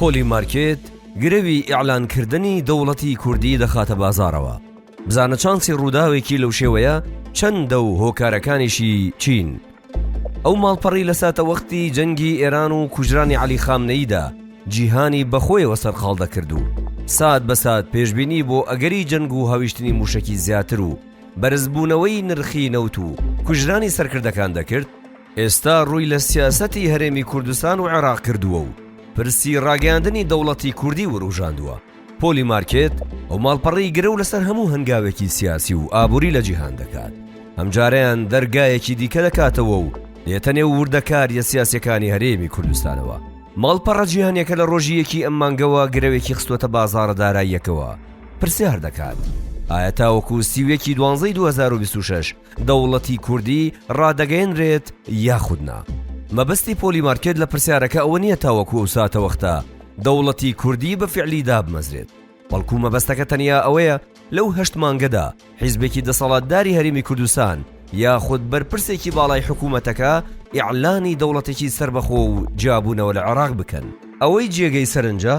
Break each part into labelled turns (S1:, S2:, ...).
S1: پۆلی مارکێت گرەوی ئیعلانکردنی دەوڵەتی کوردی دەخاتە بازاڕەوە. بزانە چانسی ڕووداوێکی لەو شێوەیە چەندە و هۆکارەکانیشی چین؟ ئەو ماڵپەڕی لە ساتەوەختی جەنگی ئێران و کوژرانی عەلی خامنەییدا جیهانی بە خۆیەوە سەرقاڵ دەکرد و سات بە سات پێشبینی بۆ ئەگەری جەنگ و هاویشتنی مووشەکی زیاتر و بەرزبوونەوەی نرخی نەوت و کوژرانی سەرکردەکان دەکرد، ئێستا ڕووی لە سیاسەتی هەرێمی کوردستان و عێراق کردووە و پرسی ڕاگەیاندنی دەوڵەتی کوردی وروژاندووە پۆلی مارکێت ئەو ماڵپەڕی گرە و لەسەر هەموو هەنگاوێکی سیاسی و ئابووری لە جیهان دەکات ئەمجاریان دەرگایەکی دیکە دەکاتەوە و دێتە نێو وردەکاریە سیاسەکانی هەرێمی کوردستانەوە ماڵپەڕە جیهانەکە لە ڕۆژی یەکی ئەم مانگەوە گرەوێکی خستوەتە بازارە داراییەکەوە پرسیار دەکات ئایا تاوەکو سیوێکی دوانزەی 2026 دەوڵەتی کوردی ڕادەگەیەنرێت یاخود نا؟ مەبەستی پۆلی مارکێت لە پرسیارەکە ئەوە نییە تاوەکو ئەو ساتەوەختە دەوڵەتی کوردی بە فیعلی دابمەزرێت، بەڵکو مەبەستەکە تەنیا ئەوەیە لەو هەشت مانگەدا حیزبێکی دەسەڵاتداری هەرێمی کوردستان یاخود بەرپرسێکی باڵای حکوومەتەکە ئیعلانی دەوڵەتێکی سەربەخۆ و جیابوونەوە لە عێراق بکەن. ئەوەی جێگەی سەرنجە،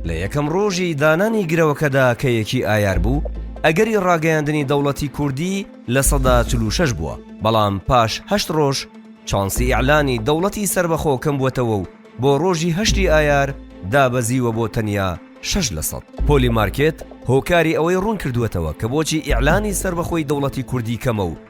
S1: لە یەکەم ڕۆژی دانانی گرەوەکەدا کە یەکی ئایار بوو، ئەگەری ڕاگەیاندنی دەوڵەتی کوردی لە سەدا چل و شەش بووە، بەڵام پاش هەشت ڕۆژ چانسی ئیعلانی دەوڵەتی سەربەخۆ کەمبووەتەوە و بۆ ڕۆژی هەشتی ئایار دابەزیوە بۆ تەنیا شەش لە سەد. پۆلی مارکێت هۆکاری ئەوەی ڕوونکردووەتەوە کە بۆچی ئیعلانی سەربەخۆی دەوڵەتی کوردی کەمە و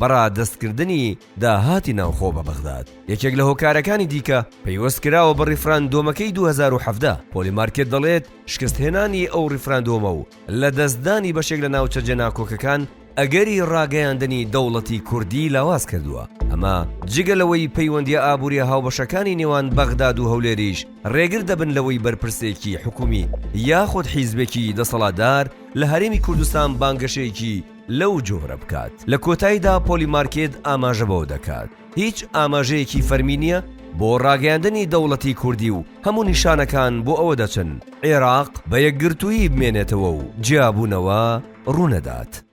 S1: بە ڕادەستکردنی داهاتی ناوخۆ بە بەغداد یەکێک لە هۆکارەکانی دیکە پەیوەست کراوە بە ڕیفراندۆمەکەی 2017 پۆلی مارکێت دەڵێت شکستهێنانی ئەو ڕیفراندۆمە و لە دەستدانی بەشێک لە ناوچە جێناکۆکەکان ئەگەری ڕاگەیاندنی دەوڵەتی کوردی لاواز کردووە ئەمە جگە لەوەی پەیوەندی ئابووری هاوبەشەکانی نێوان بەغداد و هەولێریش ڕێگر دەبن لەوەی بەرپرسێکی حکومی یاخود حیزبێکی دەسەڵاتدار لە هەرێمی کوردستان بانگەشەیەکی لەو جۆرە بکات. لە کۆتاییدا پۆلی مارکێت ئاماژە بەوە دەکات، هیچ ئاماژەیەکی فەرمی نییە بۆ ڕاگەیاندنی دەوڵەتی کوردی و هەموو نیشانەکان بۆ ئەوە دەچن عێراق بە یەکگرتوویی بمێنێتەوە و جیابوونەوە ڕوونەدات.